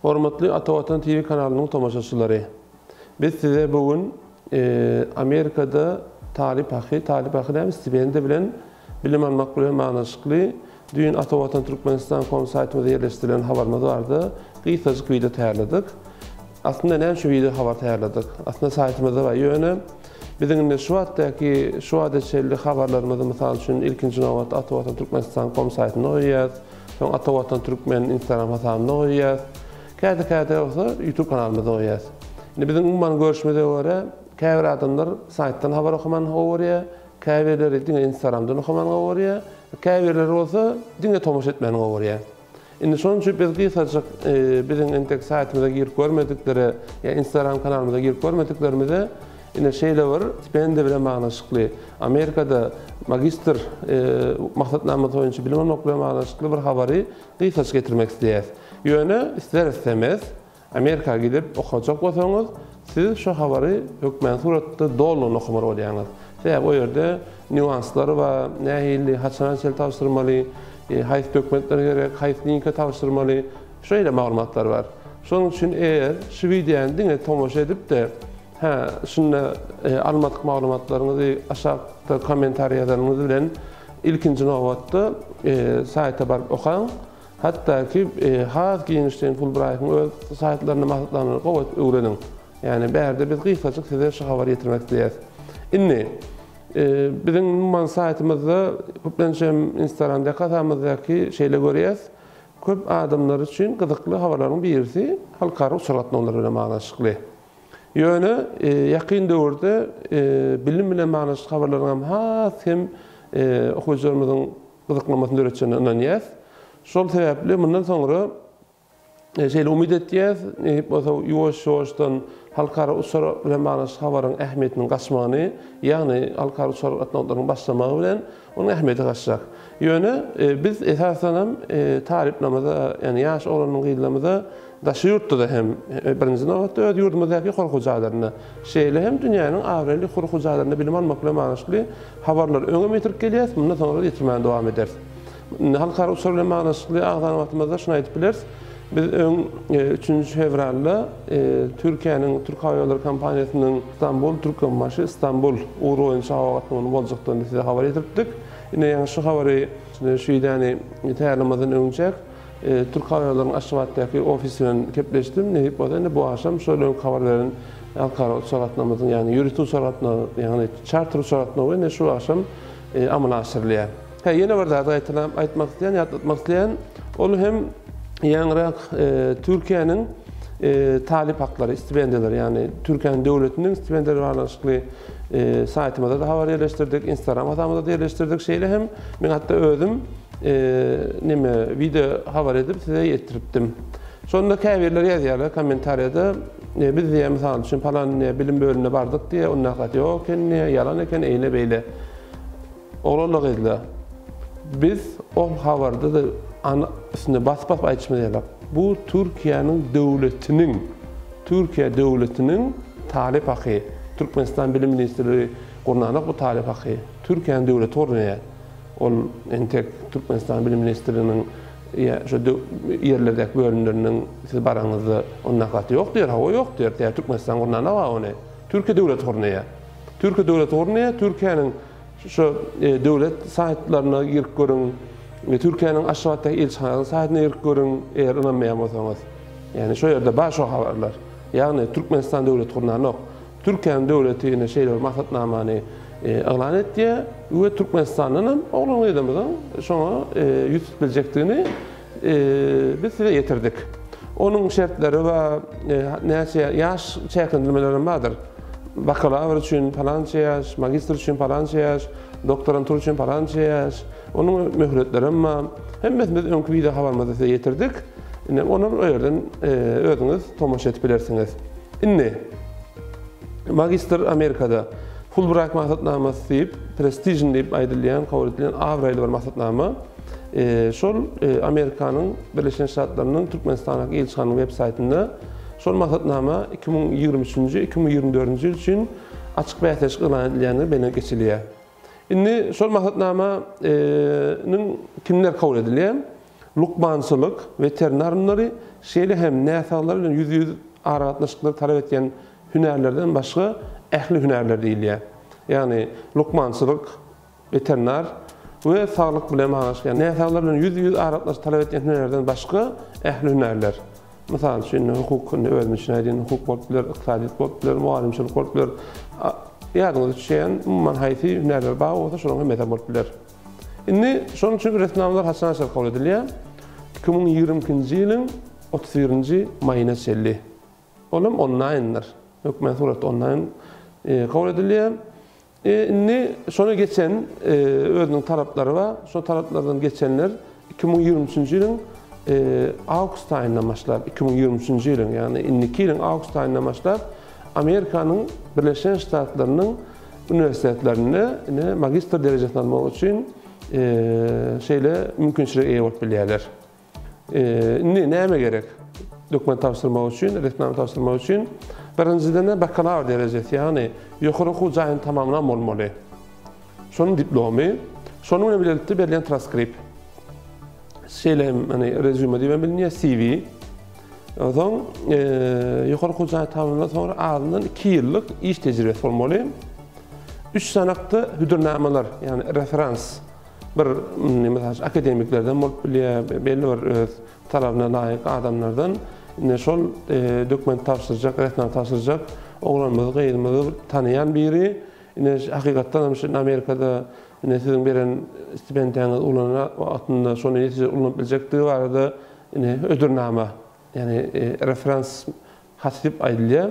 Hormatly Ata Watan TV kanalynyň tomaşaçylary! Biz size bu gün Amerikada talyp haky, talyp haky däl, stipendiýa bilen bilim almak bilen baglanyşykly Düýn Atavatan Turkmenistan kom saýtymyza ýerleşdirilen habarymyz barada gysgajyk wideo taýýarladyk. Aslynda näme üçin wideo habar taýýarladyk? Aslynda saýtymyzda bar, ýöne biziň indi şu wagtdaky, şu wagta çenli habarlarymyzy, mysal üçin, ilkinji nobatda Atavatan Turkmenistan kom saýtynda goýýarys, soň Atavatan Türkmen Instagram hasabynda goýýarys, käte-käte bolsa YouTube kanalymyzda goýýarys. Indi biziň umuman görşümize görä, käbir adamlar saýtdan habar okaman gowy görýär, Käbirleri diňe Instagramdan okamany gowarýar, käbirleri bolsa diňe tomaşa etmäni gowarýar. Indi şonuň üçin biz gysgajyk biziň entek saýtymyza girip görmediklere ýa Instagram kanalymyza girip görmediklerimize ine şeýle bir stipendiýa bilen baglanyşykly Amerikada magistr maksatnamasy boýunça bilim almak bilen baglanyşykly bir habary gysgajyk getirmek isleýäs. Ýöne isler-islemez Amerika gidip okajak bolsaňyz, siz şu habary hökmän suratda dolugyna okamaly bolýaňyz. Sebäbi o ýerde nýuanslary bar, nähili, haçana çenli tabşyrmaly, haýsy dokumentler gerek, haýsy linke tabşyrmaly, şeýle maglumatlar bar. Şonuň üçin eger şu wideony diňe tomaşa edip-de, hä, şunda almadyk maglumatlaryňyzy aşakda kommentariý ýazanyňyz bilen ilkinji nobatda saýta baryp okaň. Hatda ki has giňişleýin Fulbraýtyň öz saýtlarynda maslahatnamany gowy edip öwreniň. Ýagny bärde biz gysgajyk size şu habary ýetirmek isleýäs. Indi biziň umuman saýtymyzda köplenç hem instagram dekasamyzdaki şeýle görýäs köp adamlar üçin gyzykly habarlaryň birisi halkara uçar gatnawlary bilen baglanyşykly. Ýöne ýakyn döwürde bilim bilen baglanyşykly habarlaryň hem has hem okyjylarymyzyň gyzyklamasyny döretjegine ynanýas. Şol sebäpli mundan soňra şeýle umyt etýäs, nesip bolsa ýuwaş-ýuwaşdan halkara uçar bilen baglanyşyk habaryň ähmiýetiniň gaçmagyny, ýagny halkara uçar gatnawlarynyň başlamagy bilen onuň ähmiýeti gaçjak. Ýöne biz esasanam talyplarymyza, ýagny ýaş oglan-gyzlarymyza Daşy ýurtda-da hem, birinji nobatda, öz ýurdumyzdaky hor hojalarynda, şeýle hem dünýäniň abraýly hor hojalarynda bilim almak bilen baglyşykly habarlary öňem ýetirip gelýäris, mundan soňra-da ýetirmäne dowam ederis. Indi halkara uçur bilen baglyşykly agzan wagtymyzda şuny aýdyp bileris, biz öň üçünji fewralda Türkiýäniň Türkhawaýollary kompaniýasynyň Stambul, Türkmenbaşy, Stambul ugry boýunça howa gatnawynyň boljakdygyny size habar ýetiripdik. Ine, ýaňy şu habary, şu idäni taýýarlamazdan öňüjek Türkawýollaryň Aşgabatdaky ofis bilen gepleşdim. Nesip bolsa indi bu agşam şol öňki habar beren halkara uçar gatnawymyzyň, ýagny ýörite uçar gatnawy, ýagny çarter uçar gatnawy indi şu agşam amala aşyrylýar. Hä, ýene bir zady gaýtalap aýtmak isleýän, ýatlatmak isleýän, ol hem ýaňyrak Türkiýäniň talyp haklary, stipendiýalary, ýagny Türkiýäniň döwletiniň stipendiýalary baglanyşykly saýtymyza-da habar ýerleşdirdik, instagram hasabyna-da ýerleşdirdik. Şeýle hem men hatda özüm neme video habar edip size ýetiripdim. Şonda käbirler ýazýarlar kommentariýada biz diýýär mysal üçin palan bilim bölümine bardyk diýýär onda hakykat ýok eken diýýär ýalan eken eýle beýle. Oglanlar gyzlar biz ol habarda da üstünde basyp basyp aýdyşymyz ýaly bu Türkiýäniň döwletiniň Türkiýe döwletiniň talyp haky Türkmenistan bilim ministrligi gurnanok bu talyp haky Türkiýäniň döwleti gurnaýar. Ol entek Türkmenistan Bilim ministrliginiň ýa şu ýerlerdäki bölümleriniň siz baraňyzda ony nakgaty ýok diýer. Hawa ýok diýer. Tä Türkmenistan gurnanok-a ony. Türkiýe döwleti gurnaýar. Türkiýe döwleti gurnaýar. Türkiýäniň şu döwlet saýtlaryna girip görüň. Türkiýäniň Aşgabatdaky ilçihanasynyň saýtyna girip görüň, eger ynanmaýan bolsaňyz. Ýagny şo ýerde bar şo habarlar. Ýagny Türkmenistan döwleti gurnanok. Türkiýäniň döwleti ine şeýle bir maksatnamany yglan etýär we Türkmenistandan hem oglan-gyzymyzyň şoňa ýüz tutup biljekdigini biz size ýetirdik. Onuň şertleri we näçe ýaş çäklendirmeleri hem bardyr. Bakalawr üçin palança ýaş, magistr üçin palança ýaş, doktorantura üçin palança ýaş. Onuň möhletleri hem bar. Hemmesini biz öňki wideohabarymyzda size ýetirdik. Ine, olar o ýerden özüňiz tomaşa edip bilersiňiz. Indi, magistr Amerikada, Fulbrayt maksatnamasy diýip, prestižni diýip aýdylýan, kabul edilen abraýly bir maksatnama. Şol Amerikanyň Birleşen Ştatlarynyň Türkmenistanyň ilçihanyň web saýtynda şol maksatnama iki müň ýigrimi üçünji, iki müň ýigrimi dördünji ýyl üçin açyk bäsleşik yglan edilýändigi bellenip geçilýär. Indi şol maksatnama nyň kimler kabul edilýär? Lukmançylyk, weterinar ylymlary, şeýle hem näsaglar bilen ýüz-ýüz aragatnaşyklary talap edýän hünärlerden başga ähli hünärler diýilýär. Ýagny lukmançylyk, weterinar we saglyk bilen baglanyşykly, ýagny näsaglar bilen ýüz-ýüz aragatnaşyk talap edýän hünärlerden başga ähli hünärler. Mysal üçin, indi hukuk indi özüniň içine aýdýan hukuk bolup biler, ykdysadyýet bolup biler, mugallymçylyk bolup biler. Ýadyňyza düşýän, umuman haýsy hünärler bar bolsa, şolaryň hemmesi bolup biler. Indi şonuň üçin resminamalar haçan açar kabul edilýär? Iki müň ýigrimi ikinji ýylyň otuz birinji maýyna çenli. Ol hem onlaýndyr. Hökmany suratda onlaýn kabul edilýär. Indi şony geçen özüniň talaplary bar. Şo talaplardan geçenler iki müň ýigrimi üçünji ýylyň awgust aýyndan başlap, iki müň ýigrimi üçünji ýylyň, ýagny indiki ýylyň awgust aýyndan başlap Amerikanyň Birleşen Ştatlarynyň uniwersitetlerinde ine magistr derejesini almak üçin şeýle mümkinçilige eýe bolup bilýärler. Indi näme gerek? Dokument tabşyrmak üçin, resminama tabşyrmak üçin birinjiden bakalawr derejesi, ýagny ýokary okuw jaýyny tamamlan bolmaly. Şonuň diplomy, şonuň bilen bilelikde berlen transkript. Şeýle hem hani rezýume diýip bilinýär, CV. Onsoň ýokary okuw jaýy tamamlandan soňra azyndan 2 ýyllyk iş tejribesi bolmaly. Üç sanakda hüdürnamalar, ýagny referans Bir, mysal üçin, akademiklerden bolup bilýär, belli bir öz talabyna laýyk adamlardan. Indi şol dokument tabşyrjak, resminama tabşyrjak oglanymyzy, gyzymyzy tanaýan biri, indi hakykatdan hem şu ýerde Amerikada indi siziň beren stipendiýaňyzy ulanyna wagtynda şony netijeli ulanyp biljekdigi barada indi hödürnama, ýagny referans Has köp aýdylýar.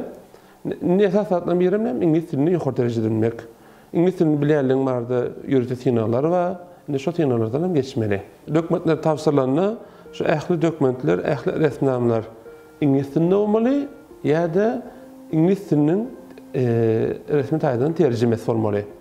Indi esaslardan birem näme, iňlis dilini ýokary derejede bilmek. Iňlis dilini bilýänligiň barada ýörite synaglar bar. Indi şo synaglardan hem geçmeli. Dökmentler tabşyrylanda, şu ähli dökmentler, ähli resminamalar iňlis dilinde bolmaly ýa-da iňlis diliniň resmi taýdan terjimesi bolmaly.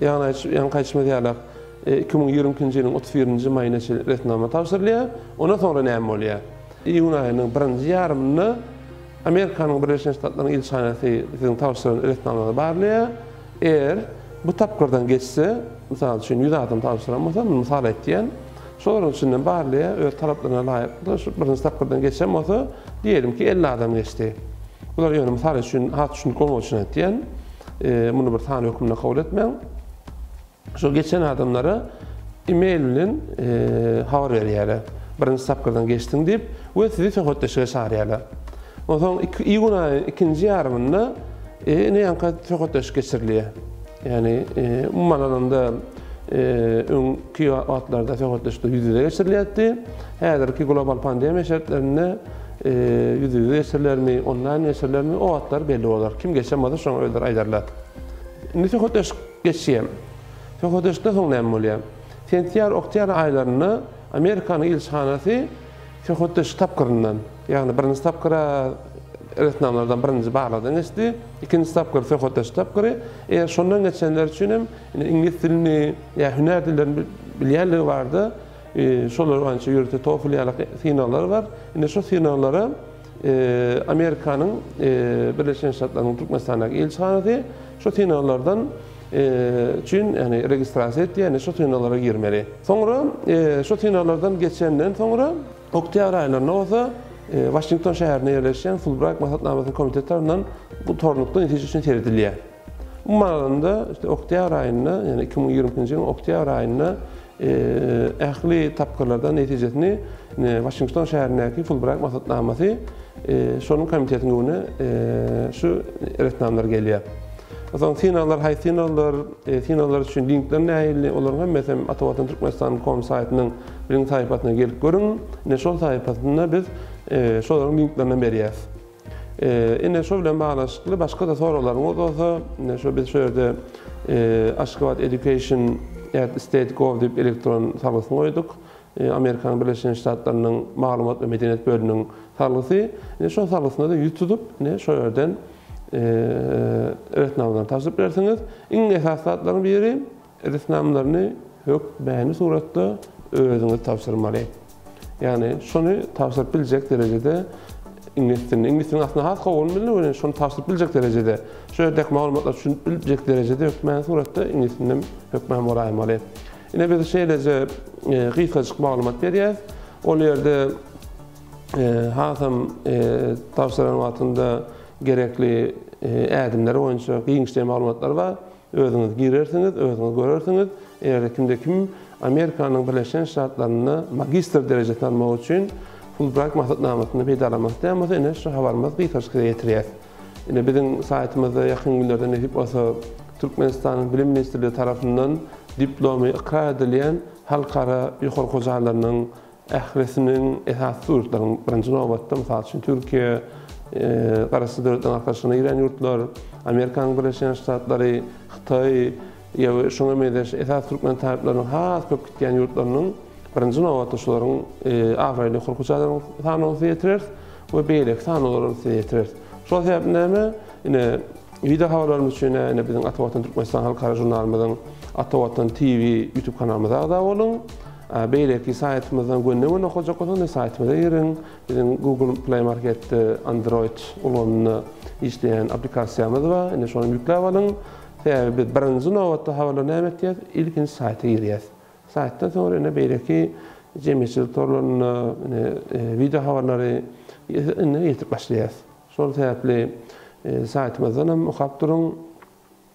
Ýaňky aýtşymyz ýalak, iki müň ýigrimi ikinji ýylyň otuz birinji maýyna çenli resminama tabşyrylýar. Ondan soňra näme bolýar? Iýun aýynyň birinji ýarymynda Amerikanyň Birleşen Ştatlarynyň ilçihanasy siziň tabşyran resminamaňyzy barlaýar. Eger bu tapgyrdan geçse, mysal üçin, ýüz adam tabşyran bolsa, men mysal aýtýan, Şol olaryň içinden barlaýa öz talaplaryna laýyklykda şu birinji tapgyrdan geçen bolsa, diýelimki, elli adam geçdi. Bular ýöne mysal üçin, has düşündik bolmagy üçin aýtýan, muny bir san hökmünde kabul etmäň. Şol geçen adamlara e-mail bilen habar berýärler. Birinji tapgyrdan geçdiň diýip we sizi söhbetdeşlige çagyrýarlar. Onsoň iýun aýynyň ikinji ýarymynda ine ýaňka söhbetdeşlik geçirilýär. Ýagny, umuman alanda, öňki wagtlarda söhbetdeşlikler ýüz-ýüze geçirilýärdi. Häzirki global pandemiýa şertlerinde ýüz-ýüze geçirilermi, onlaýn geçirilermi, o wagtlar belli bolar. Kim geçen bolsa, şoňa özleri aýdarlar. Indi söhbetdeşlik geçýär. Söhbetdeşlikden soň näme bolýar? Sentýabr-oktýabr aýlarynda Amerikanyň ilçihanasy söhbetdeşlik tapgyryndan. Ýagny birinji tapgyra resminamalardan birinji barlagdan geçdi, ikinji tapgyr söhbetdeşlik tapgyry, eger şondan geçenler üçin hem indi iňlis dilini ýa hünär dillerini bilýänligi bardy, şolar boýunça ýörite TOEFL ýaly synaglar bar, indi şu synaglara Amerikanyň Birleşen Ştatlarynyň Türkmenistandaky ilçihanasy şu synaglardan üçin ýagny registrasiýa etýär, indi şu synaglara girmeli. Soňra şu synaglardan geçenden soňra, Oktýabr aýlarynda bolsa Waşington şäherinde ýerleşýän Fulbraýt maslahatnamasynyň komiteti tarapyndan bu tornukda netije üçin seredilýär. Umuman alanda, işte oktýabr aýynda, ýagny iki müň ýigrimi ikinji ýylyň oktýabr aýynda ähli tapgyrlardan netijesini Waşington şäherindäki Fulbraýt maslahatnamasy şonuň komitetiň öňüne şu resminamalar gelýär. Soň synaglar haýsy synaglar, synaglar üçin linkler nähili, olaryň hemmesi hem Atavatan Türkmenistanyň kom saýtynyň Biziň saýypasyna gelip görüň. Ine şol saýypasynda biz şolaryň linklerini berýäs. Ine şo bilen baglanyşykly başga-da soraglaryňyz bolsa, ine şo biz şo ýerde Aşgabat Education at State Gov diýip elektron salgysyny goýduk. Amerikanyň Birleşen Ştatlarynyň maglumat we medeniýet bölüminiň salgysy. Ine şo salgysyna-da ýüz tutup, ine şo ýerden resminamalaryny tabşyryp bilersiňiz. Iň esasy zatlaryň biri, Edisnamalaryny hök mäni suratda özüňiz tabşyrmaly. Ýagny şony tabşyryp biljek derejede iňlis dilini, iňlis dilini aslynda has gowy bilmeli, ýöne şony tabşyryp biljek derejede, şu ýerdäki maglumatlary düşünip biljek derejede hök mäni suratda iňlis dilinem hök mäni bolaýmaly. Ine biz şeýleje gysgajyk maglumat berýäs. Ol ýerde hasam tabşyran wagtynda gerekli ädimler boýunça giňişleýin maglumatlar bar. Özüňiz girersiňiz, özüňiz görersiňiz, eger-de kimde kim Amerikanyň Birleşen Ştatlarynda magistr derejesini almak üçin Fulbright maksatnamasyndan peýdalanmak isleýän bolsa, ine, şu habarymyz gykanç size ýetirýär. Ine, biziň saýtymyzda ýakyn günlerde nesip bolsa Türkmenistanyň Bilim ministrligi tarapyndan diplomy ykrar edilýän halkara ýokary okuw jaýlarynyň Ählisiniň, esasy ýurtlaryň, birinji nobatda, mysal üçin, Türkiýe, Garaşsyz Döwletleriň Arkalaşygyna girýän ýurtlar, Amerikanyň Birleşen Ştatlary, Hytaý ýa we şuňa meňzeş esasy türkmen talyplarynyň has köp gitýän ýurtlarynyň, birinji nobatda, şularyň abraýly hurky çadyryň sanawyny size ýetireris we beýleki sanawlary hem size ýetireris. Şol sebäpli näme, ine, wideo habarlarymyz üçin-ä, ine, biziň Ata Watan Türkmenistan halkara žurnalymyzyň Ata Watan TV ýutub kanalymyza agza boluň. Beýleki saýtymyzdan gönüden okajakak bolsaňyz indi saýtymyza giriň. Biziň Google Play Marketde Android ulgamynda işleýän applikasiýamyz bar. Indi şony ýükläp alyň. Sebäbi biz birinji nobatda habarlar näme etýäs? Ilkinji saýta girýäs. Saýtdan soňra indi beýleki jemgyýetçilik torlarynda indi wideo habarlary indi ýetip başlaýas. Şol sebäpli saýtymyzdan hem okap duruň.